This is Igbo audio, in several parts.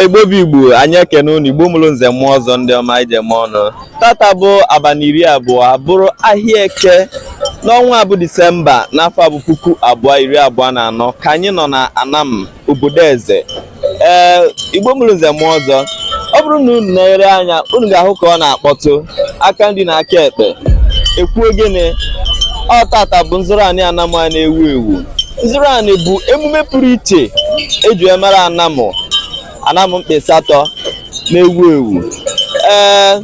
igbo bụ igbo anyị ekene unu igbo mụrụ nze mụọ ọzọ ndị ọma anyị ji eme ọnụ tata bụ abalị iri abụọ bụrụ ahịa eke n'ọnwa bụ disemba n'afọ bụ puku abụọ iri abụọ na anọ ka anyị nọ na anam obodo eze ee igbo mụrụ nze mụọ ọzọ ọ bụrụ na unu na-ere anya unu ga-ahụ ka ọ na-akpọtụ aka nri na aka ekpe ekwu ogene ọ tata bụ nzụrụ anị anam a na-ewu ewu nzụrụ anị bụ emume pụrụ iche eji emere anam anam mkpụ ịsatọ na-ewu ewu ee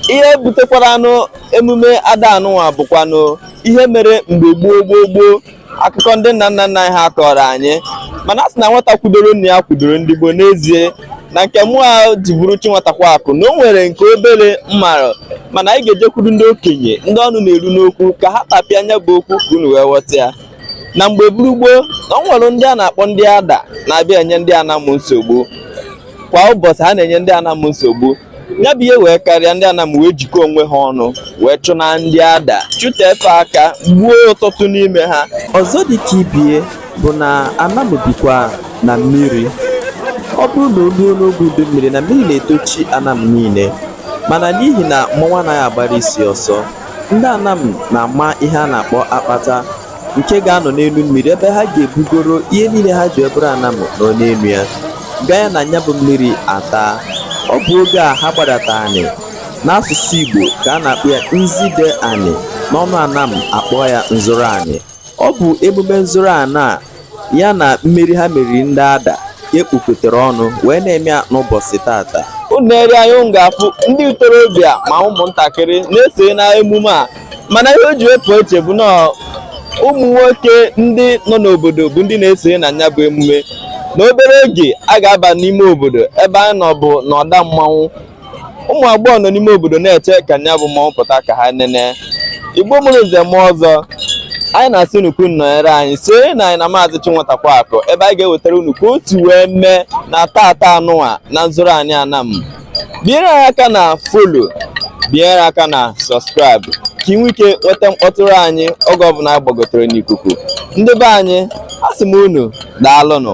ihe butekwaranụ emume ada anụnwa bụkwanụ ihe mere mgbe gboo gboo gboo akụkọ ndị nna nna nna anyị ha kọrọ anyị mana a sị na nwata kwudoro nna ya kwudoro ndị gboo n'ezie na nke mụ a ji bụrụ chinwetakwa akụ na o nwere nke obere m marụ mana anyị ga-ejekwuru ndị okenye ndị ọnụ na-eru n'okwu ka ha tapịa nya bụ okwu ka unu wee ghọta ya na mgbe buru gboo na o nwere ndị a na-akpọ ndị ada na-abịa enye ndị anam nsogbu kwa ụbọchị ha na-enye ndị anam nsogbu ya bụ ihe wee karịa ndị anam wee jikọọ onwe ha ọnụ wee chụnaa ndị ada chụta efe aka gbuo ọtụtụ n'ime ha ọzọ dị ka ibe ya bụ na anam bikwa na mmiri ọ bụrụ na o ruo n'oge udu mmiri na mmiri na-etochi anam niile mana n'ihi na mmọnwụ anaghị agbara isi ọsọ ndị anam na-ama ihe a na-akpọ akpata nke ga-anọ n'elu mmiri ebe ha ga-ebugoro ihe niile ha ji abụrụ anam nọ n'elu ya ganye na nya bụ mmiri ataa ọ bụ oge a ha gbadata anị n'asụsụ igbo ka a na-akpọ ya nzide anị n'ọnụ anam a kpọọ ya nzụrụ anị ọ bụ emume nzụrụ anị a ya na mmeri ha meriri ndị ada ka e kpokọtara ọnụ wee na-eme ya n'ụbọchị tata unu nere anya unu ga-afụ ndị ntorobịa ma ụmụntakịrị na-esonye na emume a mana ihe o ji wee pụ iche bụ na ụmụ nwoke ndị nọ n'obodo bụ ndị na-esonye na ya bụ emume na obere oge a ga-aba n'ime obodo ebe anyị nọ bụ n'ọda mmanwụ ụmụ agbọghọ nọ n'ime obodo na-eche ka nya bụ mmọnwụ pụta ka ha nene igbo mụrụ nze mụọ ọzọ anyị na-asị unu ka unu nọnyere anyị sonye na anyị na maazị chinwetakwa akụ ebe anyị ga-ewetara unu ka otu wee mee na tata anụnwa na nzụrụ anị anam binyere anyị aka na follow binyere aka na subscribe ka i nwee ike nweta mkpọtụrụ anyị oge ọbụla anyị gbagotere n'ikuku ndị be anyị asị m unu daalụnụ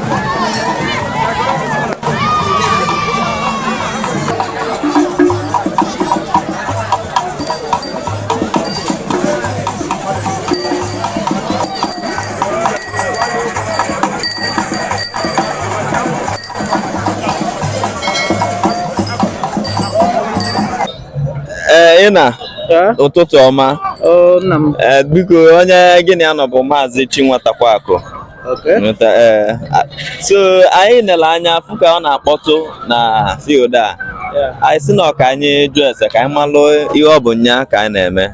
ee ị na ụtụtụ ọma nna m ee biko onye gị na ya nọ bụ maazị Chinwatakwakụ so anyị nele anya fụ ka ọ na-akpọtụ na field a anyị si na ọ ka anyị jụ ese ka anyị malụ ihe ọ bụ nya ka anyị na-eme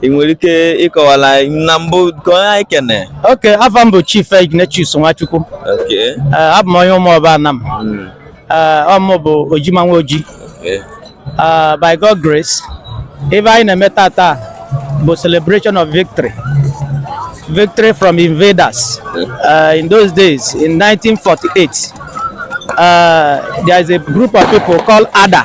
ị nwere ike ịkọwala na mbụ ka onye anyị kene okay afa m bụ Chief Ignatius Nwachukwu abụ m onye Ụmụọba Anam hmm. ọ mụ bụ Ojima nwa Oji Uh, by God grace ife anyị na-eme taata bụ celebration of victory victory from invaders uh, in those days in 1948 uh, there is a group of people called Ada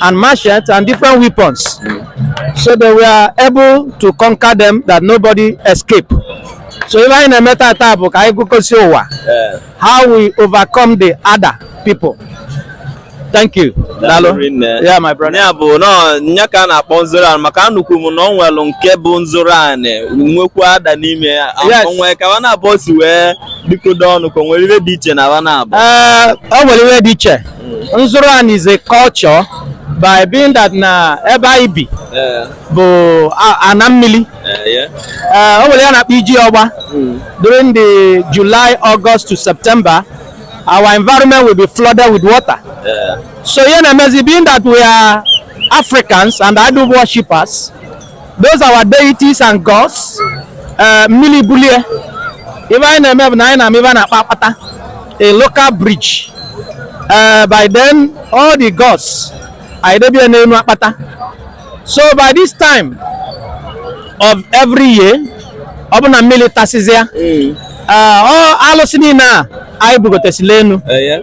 and machetes and different weapons. So they were able to conquer them that nobody escaped. So ife anyị na-eme taata bụ igosi ụwa how we overcome the Ada people. Thank you. Daalụ. Yeah, my brother. Ya bụ na ọ nya ka a na-akpọ nzoro anị maka anụkwu m na ọ nwelụ nke bụ nzụrụ anị nwekwu Ada n'ime ya o nwe ka wa naabọ si wee jikọdo ọnụ ka o nwere ife dị iche na wa naabọ. Ee, eh, o nwere ife dị iche. nzụrụ anị is a culture by being that na ebe anyị bi bụ ana mmili eh, o nwere ihe a na-akpọ iji ọgba hmm. during the July August to September our environment will be flooded with water so ihe na-emezi being that we are Africans and idol worshippers those our deities and gods eh, mmili bulie ife anyị na-eme bụ na anyị na-ama ife a na-akpọ akpata a local bridge Eh, by then all the gods anyị debie n'enu akpata so by this time of every year ọ bụ na mmili tasịzịa ee Eh, ọ alụsị niile a anyị bugotesịlị enu ee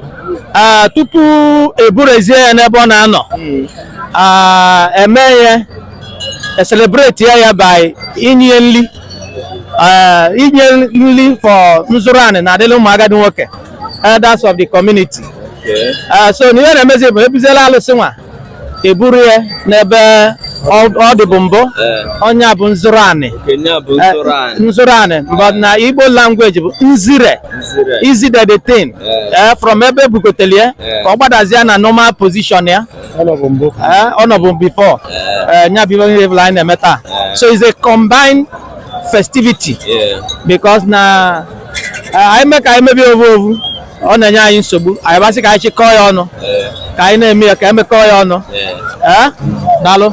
Ah, tupu eburuzie ya n'ebe ọ na-anọ Ah, e mee ya e celebrate ya ya by inye nri eh, inye nri for nzụrụ anị na-adịrị ụmụ agadi nwoke elders of the community Eh, so na ihe na-emezi bụ ebuziela alụsị nwa eburu ya n'ebe ọ ọ dịbu mbụ ọ nya bụ nzụrụ anị Eh, nzụrụ anị but na Igbo language bụ nzire izide the thing Eh, from ebe e bugotelụ ya ka ọ gbadazie na normal position ya Eh, ọ nọbụ before eh, nya bụ ive niile anyị na-eme taa eh. so it's a combined festivity because na anyị mee ka anyị mebe ya ovu ovu ọ na-enye anyị nsogbu anyị ba sị ka anyị chịkọọ ya ọnụ ka anyị na-eme ya ka anyị mekọọ ya ọnụ daalụ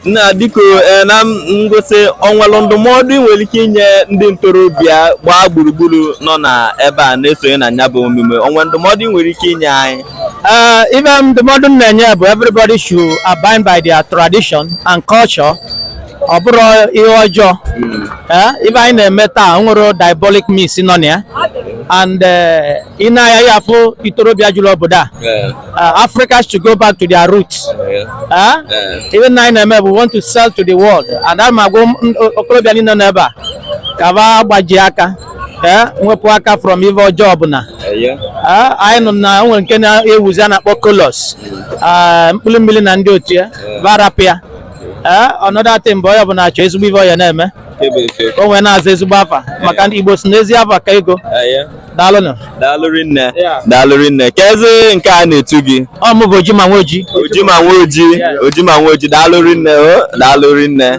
nna biko na ngwụsị o nwelụ ndụmọdụ ị nwere ike inye ndị ntorobịa gbaa gburugburu nọ na ebe a na-esonye na nya bụ omume o nwere ndụmọdụ ị nwere ike inye anyị Uh, ive ndụmọdụ m na-enye bụ everybody should abide by their tradition and culture ọ bụrọ ihe ọjọọ Eh, ive anyị na-eme taa o nwerọ diabolic means nọ na ya and eh, ị na-afụ ntorobịa jụrụ obodo a uh, Africans should go back to their roots. Huh? Ive anyị na-eme bụ we want to sell to the world. And m na-agwa okolobịa niine nọ n'ebe a ka va gbajie aka. ee nwepụ aka from ive ọjọọ ọbụla anyị nụ na o nwere nke na-ewuzi a na-akpọ kolos mkpụrụ mmiri na ndị otu ya va rapụ ya ee ọnọdụ atị mgbe onye ọbụla achọ ezigbo ive ọ ya na-eme o wee na-aza ezigbo afa maka ndị igbo sị na ezi afa ka ego daalụnụ daalụ rinne daalụ rinne keezi nke a na-etu gị ọ mụ bụ ojima nwoji ojima nwoji ojima nwoji daalụ rinne o daalụ rinne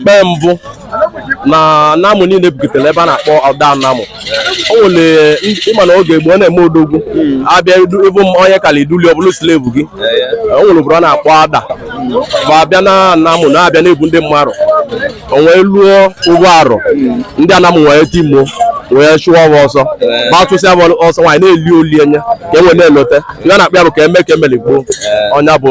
mgbe mbụ na Anam niile bukọtere ebe a na-akpọ Ọda Anam o nwere ịma na oge gboo na-eme odogwu abịa ịbụ m onye kala iduli ọ bụlụ slave gị o nwere obodo a na-akpọ Ada va abịa na Anam na-abịa na-ebu ndị mmadụ o wee luo ovu arọ ndị Anam wee timo wee chụwa va ọsọ va chụsịa ọsọ anyị na-eli olili a nya ka e wee na-elote ihe a na-akpọ ya bụ ka e mee ka e meli gboo ọ nya bụ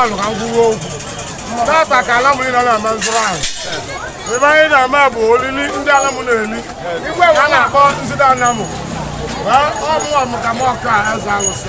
ọnụ ka m kwuwe okwu tata ka ala mụrụ nọ na-ama nzụrụ ahụ ebe anyị na-ama bụ olili ndị Anam na-eli a na-akpọ nzụda Anam ọ mụwa m ka m ọkụ a eze alụsị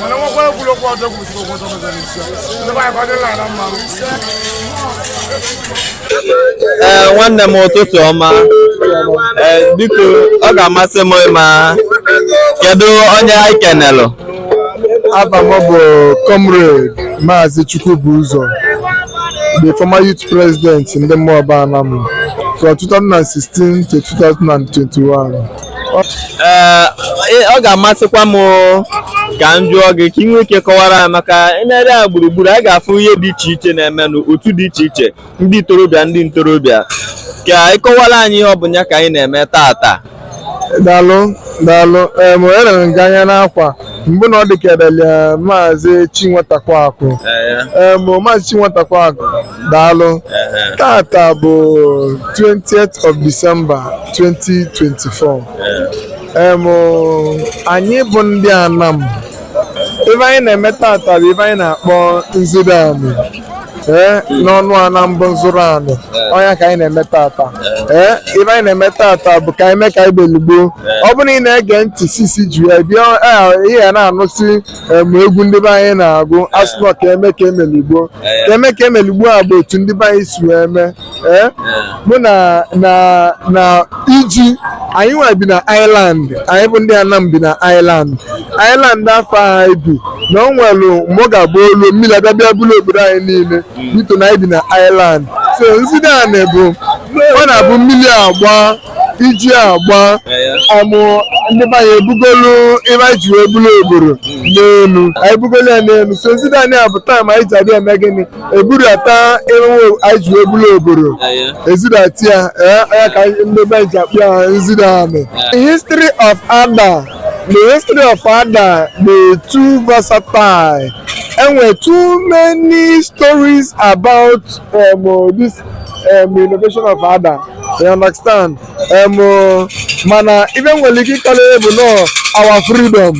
mana nwekwa egwuregwu ọzọ gwụsịrị ụgwọ ọzọ mezara isi ndị be anyị kwadịla ala mma ee nwanne m ụtụtụ ọma ee biko ọ ga-amasị m ịma kedu onye anyị kenelụ Ava m bụ Comrade Maazị Chukwubụzọ, the former youth president ndị Ụmụọba Anam from 2016 to 2021. ee ọ ga-amasịkwa m ka m jụọ gị ka ị nwee ike kọwara ya maka e nerịa gburugburu a ga-afụ ihe dị iche iche na-emenụ otu dị iche iche ndị ntorobịa ndị ntorobịa ka ị kọwara anyị ihe ọ bụ ya ka anyị na-eme tata daalụ daalụ em elere nga anya n'akwa mbụ na ọ dịkedele maazị Chinwetakwaakụ em maazị Chinwetakwaakụ daalụ tata bụ 20th of December 2024 em anyị bụ ndị Anam ife anyị na-eme tata bụ ife anyị na-akpọ nzide anị ee n'ọnụ Anam bụ nzire anị ọ nya ka anyị na-eme tata ee ife anyị na-eme tata bụ ka anyị mee ka anyị melu gboo ọ bụrụ na ị na-ege ntị since i ji abịa ị ya na-anụsi em, egwu ndị be anyị na-agụ asị na ka e mee ka e meli gboo ka e mee ka e meli gboo ọ bụ otu ndị be anyị si wee mee ee mụ na na na iji anyị nwa bi na island anyị bụ ndị Anam bi na island island afụ anyị bi na o nwere mgbe ọ ga-abụ o luo mmiri abịa bịa bulu obodo anyị niile bito na anyị bi na island so nzide anị bụ ọ na-abụ mmiri agba iji agba amụ ndị be anyị ebugolu ebe anyị ji wee bulu obodo n'elu anyị bugolu ya n'elu so nzide anị a bụ time anyị ji abịa eme gịnị eburata emewe anyị ji wee bulu obodo ezidata ya ee ya ka ndị be anyị ji akpọ ya nzide anị history of Ada the history of Ada dị too versatile e nwere too many stories about um, this um, invasion of Ada you understand um, uh, mana ife m nwere ike ịkọlere bụ na ọ our freedom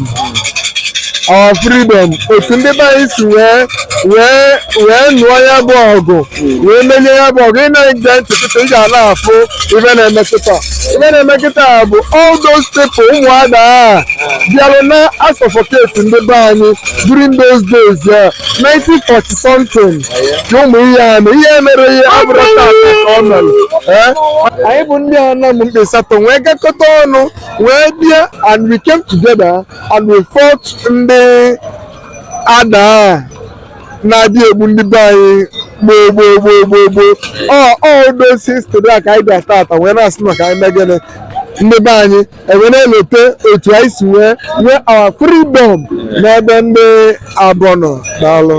our freedom otu ndị be anyị si wee wee wee nụọ ya bụ ọgụ wee merie ya bụ ọgụ ị na-ege ntị kịta ị ga na-afụ ife na-eme kịta ife na-eme kịta bụ all those people ụmụ Ada bịara na-asuffocate ndị be anyị during those days ya 1940 something ụmụ ihe anụ ihe mere ihe abụrụ tata ka ọ mere anyị bụ ndị Anam mkpụ ịsatọ wee gakọta ọnụ wee bịa and we came together and we fought ndị Ada na-abịa egbu ndị be anyị gboo gboo gboo gboo gboo ọ ọ those history a ka anyị bịa tata wee na-asị ka anyị mee gịnị ndị be anyị e wee na-elote otu anyị si wee nwee our freedom n'ebe ndị afụ nọ daalụ